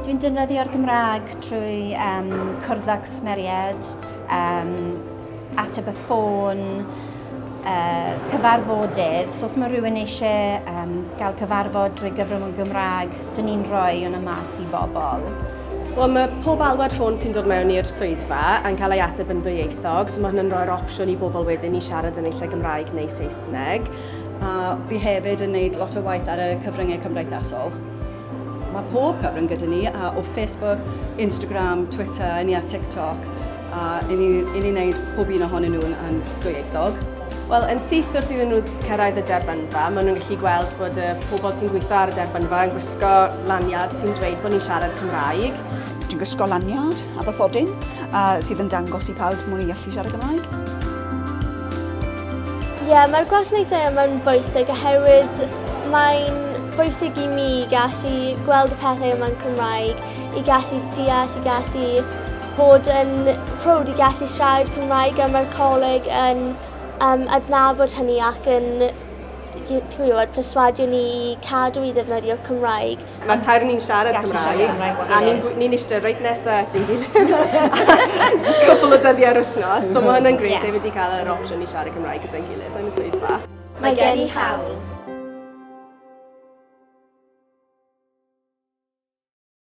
Dwi'n defnyddio'r Gymraeg trwy um, cwrdd â cwsmeriaid, um, ateb y ffôn, uh, cyfarfodydd. So os mae rhywun eisiau um, gael cyfarfod drwy gyfrwng y Gymraeg, dyn ni'n rhoi hwnna mas i bobl. Wel, mae pob alwad ffôn sy'n dod mewn i'r swyddfa yn cael ei ateb yn ddwyieithog, so mae hynny'n rhoi'r opsiwn i bobl wedyn i siarad yn eisiau Gymraeg neu Saesneg. A fi hefyd yn neud lot o waith ar y cyfryngau cymdeithasol. Mae pob cyfrwng gyda ni, a o Facebook, Instagram, Twitter, i ni ar TikTok, a i ni, i ni wneud pob un ohonyn nhw'n yn dwyieithog. Wel, yn syth wrth iddyn nhw cyrraedd y derbynfa, maen nhw'n gallu gweld bod y pobl sy'n gweithio ar y derbynfa yn gwisgo lanyard sy'n dweud bod ni'n siarad Cymraeg. Dwi'n gwisgo lanyard a bathodyn a sydd yn dangos i pawb mod i'n gallu siarad Cymraeg. Ie, mae'r gwasanaethau yma'n bwysig oherwydd mae'n bwysig i mi gallu gweld y pethau yma'n Cymraeg, i gallu deall, i gallu bod yn prowd i gallu siarad Cymraeg a mae'r coleg yn um, adnabod hynny ac yn ti'n gwybod, perswadio ni i cadw i ddefnyddio'r Cymraeg. Mae'r tair ni'n siarad Gallu Cymraeg, siarad Cymraeg a ni'n gw- ni'n eistedd reit nesa at ei gilydd cwpl o dyddiau yr wythnos, so mae hwnna'n grêt Ie. hefyd i cael yr opsiwn i siarad Cymraeg gyda'n gilydd yn y swyddfa. Mae gen i hawl.